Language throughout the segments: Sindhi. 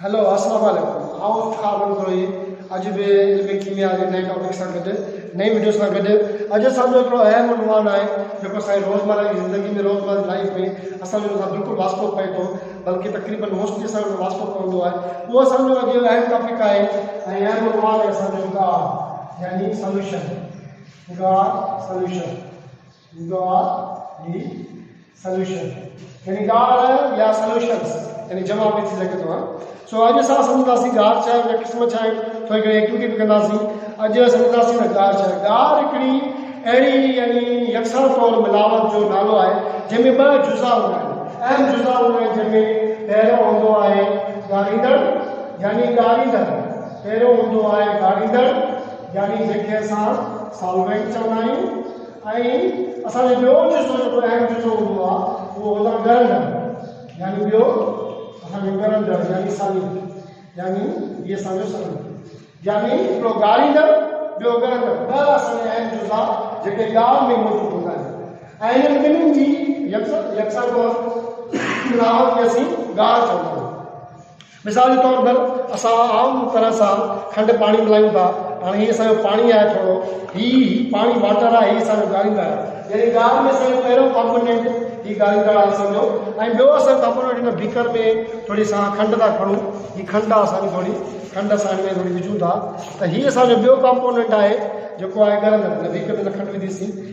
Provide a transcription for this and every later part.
هيلو اسلام عليڪم آئون افتخار منگروهي اڄ به علم ڪيميا جي نئين ٽاپڪ سان گڏ نئين وڊيو سان گڏ اڄ اسان جو هڪڙو اهم عنوان آهي جيڪو سائين روزمره جي زندگي ۾ روزمره جي لائف ۾ اسان جو سان بلڪل واسطو پئي ٿو بلڪه تقريبن موسٽلي اسان جو واسطو پوندو آهي اهو اسان جو اڄ اهم ٽاپڪ آهي ۽ اهم عنوان آهي اسان جو گاهه يعني سوليوشن گاهه سوليوشن ڏيندو آ ڊي سلوشن يعني ڳاڙهه يا سلوشنس يعني جمع به ٿي سگهندو آ سو اڄ اسان سمجهنداسين ڳاڙهه ڇا آهي قسم ڇا آهن ٿوري گهڻي ايڪٽيوٽي به ڪنداسين اڄ سمجهنداسين ته ڳاڙهه ڇا آهي ڳاڙهه هڪڙي اهڙي يعني يڪسان طور ملاوت جو نالو آهي جنهن ۾ ٻه جزا هوندا آهن اهم جزا هوندا آهن جنهن ۾ پهريون هوندو آهي ڳاڙهيندڙ يعني ڳاڙهيندڙ پهريون هوندو آهي ڳاڙهيندڙ يعني جنهن کي اسان سالوينٽ چوندا آهيون ۽ اسان جو ٻيو جزو جيڪو اهم جزو هوندو آهي اهو هوندو آهي ڳرن جهڙو يعني ٻيو اسان جو ڳرن جهڙو يعني سني يعني هي اسان جو سني يعني هڪڙو ڳاريندڙ ٻيو ڳرندڙ ٻه اسان جا اهم جزا جيڪي ڳالهه ۾ موجود هوندا آهن ۽ انهن ٻنهي جي يڪسان طور ملاوت کي اسين ڳار چوندا آهيون مثال جي طور پر اسان عام طرح سان کنڊ پاڻي ملايون ٿا هاڻي هي اسان جو پاڻي آهي ٿورو هي هي پاڻي واٽر آهي هي اسان جو ڳاريندڙ آهي يعني ڳار ۾ اسان جو پهريون ڪامپونينٽ هي ڳاريندڙ آهي اسان جو ۽ ٻيو اسان ڪامپونينٽ هن بيڪر ۾ ٿوري سان کنڊ ٿا کڻون هي کنڊ آهي اسان جي ٿوري کنڊ اسان ۾ ٿوري وجهون ٿا ته هي اسان جو ٻيو ڪامپونينٽ آهي جيڪو آهي ڳرندڙ هن بيڪر ۾ کنڊ وڌيسين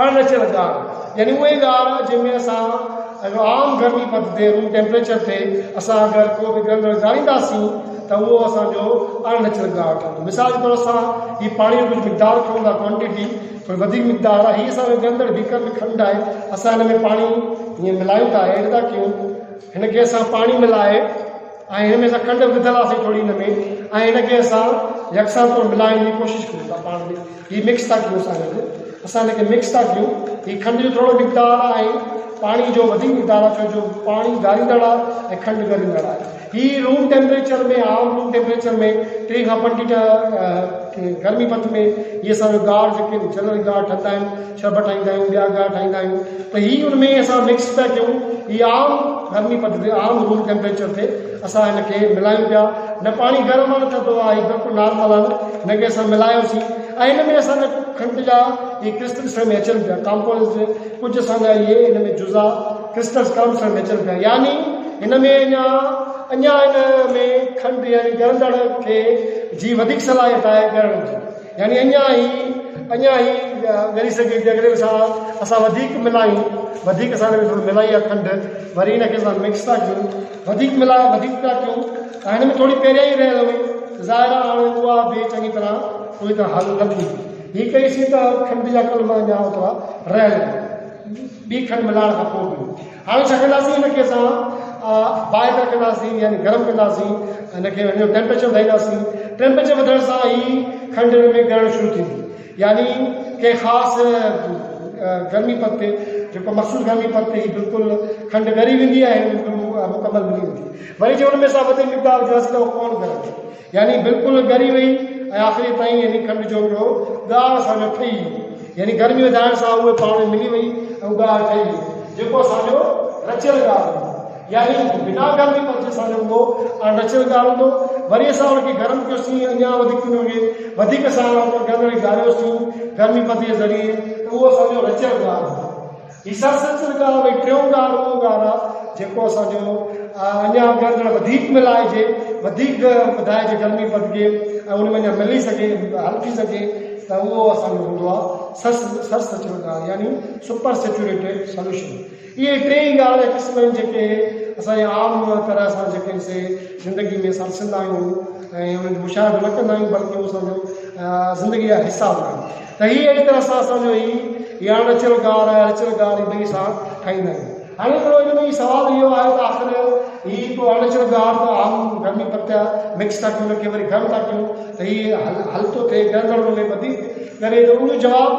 اڻ رچيل ڳار، يعني اهي ڳار جنهن ۾ اسان عام گرمي پد تي روم ٽيمپريچر تي اسان اگر ڪو به گرم رنگ ڳارينداسين ته اهو اسان جو اڻ رچيل ڳار ٺهندو. مثال جي طور اسان هي پاڻي جو ڪجهه مقدار کڻون ٿا Quantity ٿوري وڌيڪ مقدار آهي هي اسان جو ڳرندڙ بيڪر ۾ کنڊ آهي اسان هن ۾ پاڻي هيئن ملايون ٿا Add ٿا ڪيون هن کي اسان پاڻي ملائي ۽ هن ۾ اسان کنڊ به وڌل آسي ٿوري هن ۾ ۽ هن کي اسان يڪسان طور ملائڻ جي ڪوشش ڪريون ٿا پاڻ ۾ هي مڪس ٿا ڪيون اسان گڏ اسان هن کي مڪس ٿا ڪيون هي کنڊ جو ٿورو مقدار آهي پاڻي جو وڌيڪ مقدار آهي ڇو جو پاڻي ڳاريندڙ آهي ۽ کنڊ ڳريندڙ آهي هي روم ٽيمپريچر ۾ عام روم ٽيمپريچر ۾ ٽي کان پنجٽيهه گرمي پت ۾ هي اسان جو ڳاڙ جيڪي جنرل ڳاڙ ٺهندا آهن ڇڀ ٺاهيندا آهيون ٻيا ڳاهه ٺاهيندا آهيون ته هي ان ۾ اسان مڪس پيا ڪيون هي عام گرمي پد تي عام روم ٽيمپريچر تي اسان هن کي ملايون پيا نه پاڻي گرم آهي نه ٿڌو آهي هي بلڪل نارمل آهن هن کي اسان ملايوسين ۽ هن ۾ اسان جا کنڊ جا هي ڪرسٽلس ۾ اچن پيا ڪامپوز ڪجهه اسان جا هي هن ۾ جزا ڪرسٽلس ڪامپوز ۾ اچن پيا يعني هن ۾ اڃا اڃا هن ۾ کنڊ يعني ڳرندڙ کي جي وڌيڪ صلاحيت آهي ڳرڻ جي يعني اڃان هي اڃان هي ڳري سگهي ٿي اگر ان سان اسان وڌيڪ ملايون وڌيڪ اسان هن ۾ ٿورو ملائي يا کنڊ وري هن کي اسان مڪس ٿا ڪيون وڌيڪ ملايون وڌيڪ ٿا ڪيون ۽ هن ۾ ٿوري پهريان ئي رهيل هئي ظاهر آهي هاڻي اها به چڱي طرح پوري طرح حل نه ٿيندي هي ڪئيسين ته کنڊ جا ڪلما اڃا اوترا رهيل ٻي کنڊ ملائڻ کان پوء به هاڻي ڇا ڪنداسين هن کي اسان بائيڪر ڪنداسين يعني گرم ڪنداسين هن کي هن جو ٽيمپريچر وڌائينداسين ٽيمپريچر وڌڻ سان هي کنڊ هن ۾ ڳرڻ شروع ٿيندي يعني ڪنهن خاص گرمي پد تي جيڪو مخصوص گرمي پد تي هي بلڪل کنڊ ڳري ويندي ۽ مڪمل ملي ويندي وري جي هن ۾ اسان وڌيڪ مقدار وجهنداسين ته اهو ڪون ڳرندي يعني بلڪل ڳري وئي ۽ آخري تائين يعني کنڊ جو ھڪڙو ڳاڙھ سان نھ ٺھي يعني گرمي وڌائڻ سان اھي پاڻ ملي وئي ۽ ڳاڙھ ٺھي ويو جيڪو اسان جو رچيل ڳاڙھ ھوندو يعني بنا گرمي پرچي سان جو ھوندو اڻ رچيل ڳاڙھ ھوندو وري اسان ان کي گرم ڪيو سين اڃا وڌيڪ ان کي وڌيڪ اسان ان کي ڳاڙھيو سين گرمي پد جي ذريعي ته اھو اسان جو رچيل ڳاڙھ ھوندو هي سر سچل ڳاهه ۾ ٽيون ڳاهه رڳو ڳاهه آهي جيڪو اسان جو اڃا اڳيان ڄڻ وڌيڪ ملائجي وڌيڪ وڌائجي گرمي پدگي ۽ ان ۾ اڃا ملي سگهي حل ٿي سگهي ته اهو اسان جو هوندو آهي سر سر سچل ڳاهه يعني سپر سيچوريٽيڊ سولوشن اهي ٽي ئي ڳاهه جا قسم آهن جيڪي اسان جي عام طرح سان جيڪي سي زندگي ۾ اسان ڏسندا آهيون ۽ انهن جو مشاهدو نه ڪندا آهيون بلڪه اهو اسان جو زندگي جا حصا هوندا آهن ته هي اهڙي طرح سان اسان جو هي يا رچيل گار ۽ اڻچيل گار ٻئي سان ٺاهيندا آهيون. هاڻي هڪڙو ان ۾ هي سوال اهو آهي ته آخر هي هڪڙو اڻچيل گار ته آهو گرمي پتيا مڪس ٿا ڪيون ان کي وري گرم ٿا ڪيون ته هي حل ٿو ٿئي ڳرندڙ ان ۾ وڌيڪ ڳري ٿو ان جو جواب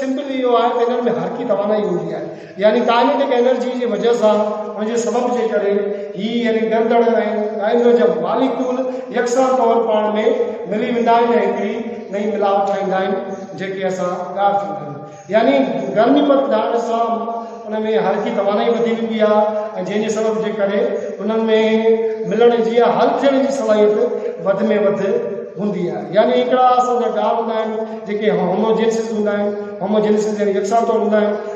سمپل اهو آهي ته انهن ۾ حرڪي توانائي هوندي آهي. يعني ڪائنيٽڪ انرجي جي وجهه سان ان جي سبب جي ڪري هي يعني ڳرندڙ ۽ ڳائنڊوجم ماليڪول يڪسان طور پاڻ ۾ ملي ويندا آهن ۽ هڪڙي نئين ملاوٽ ٺاهيندا آهن جيڪي اسان ڳاڙهه ٿيون ڪريون يعني گرمي پد ڏهڻ سان ان ۾ حرڪي توانائي وڌي ويندي آهي ۽ جنهن جي سبب جي ڪري انهن ۾ ملڻ جي يا حل ٿيڻ جي صلاحيت وڌ ۾ وڌ هوندي آهي يعني هڪڙا اسان جا ڳاڙهه هوندا آهن جيڪي هوموجينسز هوندا آهن هوموجينسز يعني يڪسان طور هوندا آهن